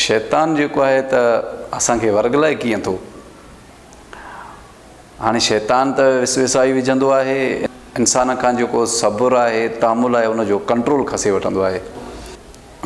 شيطان جيڪو آهي ته اسان کي ورغلائي ڪيئن ٿو هاڻي شيطان ته وسوسائي وجهندو آهي انسان کان جيڪو صبر آهي تامل آهي ان جو ڪنٽرول کسي وٺندو آهي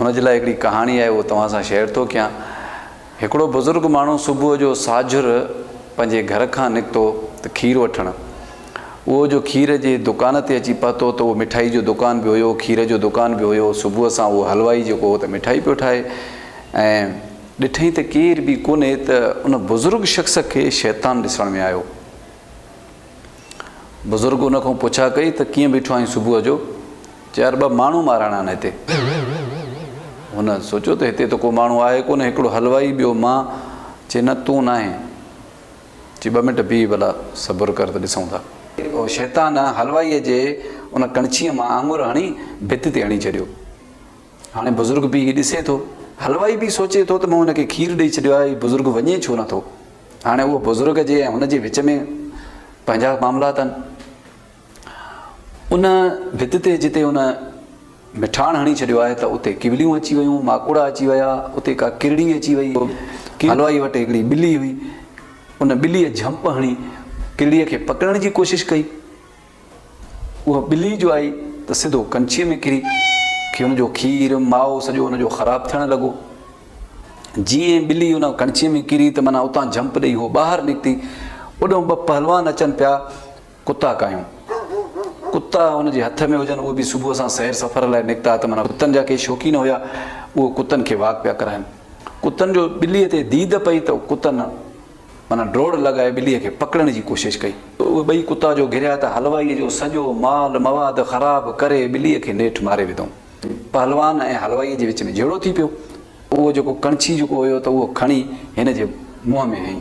ان جي لاء هڪڙي ڪهاڻي آهي اهو توهان سان شيئر ٿو ڪيان هڪڙو بزرگ ماڻهو صبح جو ساجھر پنهنجي گھر کان نڪتو ته کير وٺڻ اهو جو کير جي دڪان تي اچي پهتو ته اهو مٺائي جو دڪان به هيو، کير جو دڪان به هيو، صبح سان اهو حلوائي جيڪو هو ته مٺائي پيو ٺاهي ۽ ڏٺئين ته ڪير به ڪونهي ته ان بزرگ شخص کي شيطان ڏسڻ ۾ آيو. بزرگ ان کان پڇا ڪئي ته ڪيئن بيٺو آهين صبح جو؟ چي يار ٻه ماڻهو مارڻا آهن هتي. هن سوچيو ته هتي ته ڪو ماڻهو آهي ڪونهي هڪڙو حلوائي ٻيو مان چي نه تون ناهين. چي ٻه منٽ بيهه ڀلا صبر ڪر ته ڏسون ٿا. اهو شيطان حلوائيء جي ان ڪڻڇيء مان آڱر هڻي ڀت تي هڻي ڇڏيو. هاڻي بزرگ بيهي ڏسي ٿو. حلوائي به سوچي ٿو ته مون هن کي کير ڏئي ڇڏيو آهي، هي بزرگ وڃي ڇو نه ٿو. هاڻي اهو بزرگ جي ۽ هن جي وچ ۾ پنهنجا معاملا اٿن. ان ڀت تي جتي ان مٺاڻ هڻي ڇڏيو آهي ته اتي ڪوليون اچي ويون، ماڪوڙا اچي ويا، اتي ڪا ڪرڙي اچي ويئي. حلوائيء وٽ هڪڙي ٻلي هئي. ان ٻليء جهمپ هڻي ڪرڙيء کي پڪڙڻ جي ڪوشش ڪئي. اها ٻلي جو آئي ته سڌو ڪنڇيء ۾ ڪري کي ان جو کير، مائو سڄو ان جو خراب ٿيڻ لڳو. جيئن ئي ٻلي ان ڪنڇيء ۾ ڪري ته معنيٰ اتان جهمپ ڏئي هوء ٻاهر نڪتي. اوڏانهن ٻه پهلوان اچن پيا. ڪتا ڪايون ڪتا هن جي هٿ ۾ هجن اهي به صبح سان سير سفر لاء نڪتا ته معنيٰ ڪتن جا ڪي شوقين هيا اهي ڪتن کي واڪ پيا ڪرائين ڪتن جو ٻلي تي ديد پئي ته ڪتن معنيٰ ڊوڙ لڳائي ٻلي کي پڪڙڻ جي ڪوشش ڪئي اهي ٻئي ڪتا جو گهريا ته حلوائي جو سڄو مال مواد خراب ڪري ٻلي کي نيٺ ماري وڌئون پهلوان ۽ حلوائي جي وچ ۾ جهيڙو ٿي پيو. اهو جيڪو ڪڻڇي جيڪو هيو ته اهو کڻي هن جي منهن ۾ هنئي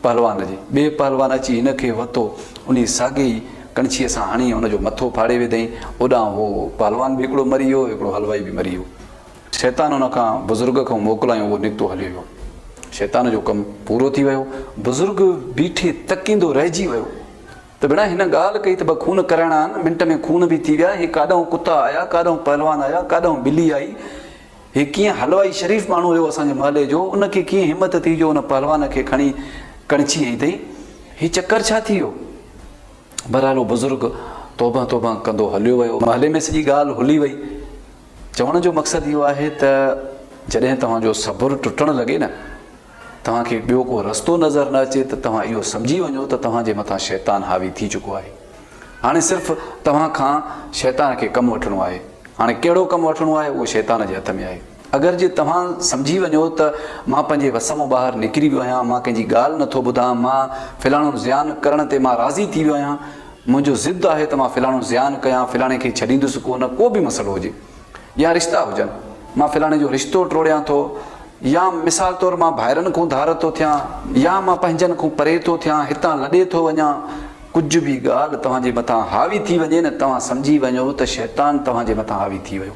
پهلوان جي. ٻئي پهلوان اچي هن کي وتو انهي ساڳي ئي ڪڻڇيء سان هڻي هن جو مٿو ڦاڙي وڌئين. اوڏانهن هو پهلوان به هڪڙو مري ويو هڪڙو حلوائي به مري ويو. شيطان ان کان بزرگ کان موڪلايون اهو نڪتو هليو ويو. شيطان جو ڪم پورو ٿي ويو. بزرگ بيٺي تڪيندو رهجي ويو ته ڀيڻا هن ڳالهه ڪئي ته ٻه خون ڪرائڻا آهن. منٽ ۾ خون به ٿي ويا. هي ڪاڏانهون ڪتا آيا ڪاڏانهون پهلوان آيا ڪاڏانهون ٻلي آئي هي ڪيئن حلوائي شريف ماڻهو هيو اسان جي محلي جو، ان کي ڪيئن همت ٿي جو ان پهلوان کي کڻي ڪڻڇي هنئي اٿئي؟ هي چڪر ڇا ٿي ويو؟ بهرحال هو بزرگ توبهه توبهه ڪندو هليو ويو. محلي ۾ سڄي ڳالهه هلي وئي. چوڻ جو مقصد اهو آهي ته جڏهن توهان جو صبر ٽٽڻ لڳي نه. توهان کي ٻيو ڪو رستو نظر نه اچي ته توهان اهو سمجهي وڃو ته توهان جي مٿان شيطان حاوي ٿي چڪو آهي. هاڻي صرف توهان کان شيطان کي ڪم وٺڻو آهي. هاڻي ڪهڙو ڪم وٺڻو آهي اهو شيطان جي هٿ ۾ آهي. اگر جي توهان سمجهي وڃو ته مان پنهنجي وس مون ٻاهر نڪري ويو آهيان، مان ڪنهن جي ڳالهه نه ٿو ٻڌان، مان فلاڻو زيان ڪرڻ تي مان راضي ٿي ويو آهيان، منهنجو ضد آهي ته مان فلاڻو زيان ڪيان، فلاڻي کي ڇڏيندس ڪو نه ڪو به مسئلو هجي. يا رشتا هجن، مان فلاڻي جو رشتو ٽوڙيان ٿو يا مثال طور مان ڀائرن کون ڌار ٿو ٿيان يا مان پنهنجن کون پري ٿو ٿيان، هتان لڏي ٿو وڃان، ڪجهه به ڳالهه توهان جي مٿان حاوي ٿي وڃي نه توهان سمجهي وڃو ته شيطان توهان جي مٿان حاوي ٿي ويو.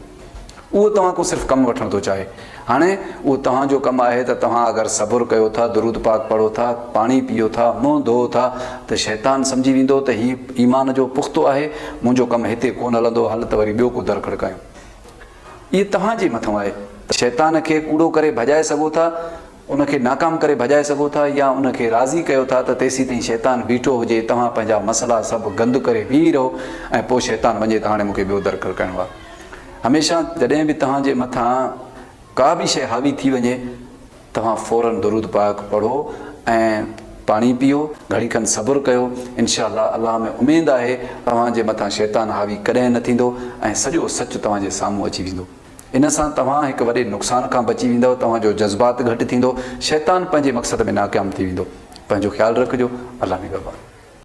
اهو توهان کون صرف ڪم وٺڻ ٿو چاهي. هاڻي اهو توهان جو ڪم آهي ته توهان اگر صبر ڪيو ٿا، درود پاڪ پڙهو ٿا، پاڻي پيئو ٿا، منهن ڌوئو ٿا ته شيطان سمجهي ويندو ته هي ايمان جو پختو آهي، منهنجو ڪم هتي ڪونه هلندو، هل ته وري ٻيو ڪو در کڙڪايون. اهي توهان جي مٿئون آهي ته شيطان کي ڪوڙو ڪري ڀڄائي سگهو ٿا، ان کي ناڪام ڪري ڀڄائي سگهو ٿا يا ان کي راضي ڪيو ٿا ته تيسيتائين شيطان بيٺو هجي توهان پنهنجا مسئلا سڀ گند ڪري بيهي رهو ۽ پوء شيطان وڃي ته هاڻي مون کي ٻيو در کرڪائڻو آهي هميشه جڏهن به توهان جي مٿان ڪا به شيء حاوي ٿي وڃي توهان فورن درود پاڪ پڙهو ۽ پاڻي پيئو گهڙي کن صبر ڪيو انشاء الله الله ۾ اميد آهي توهان جي مٿان شيطان حاوي ڪڏهن نه ٿيندو ۽ سڄو سچ توهان جي سامهون اچي ويندو. ان سان توهان هڪ وڏي نقصان کان بچي ويندؤ، توهان جو جذبات گهٽ ٿيندو، شيطان پنهنجي مقصد ۾ ناڪام ٿي ويندو. پنهنجو خيال رکجو. الله نگهبان.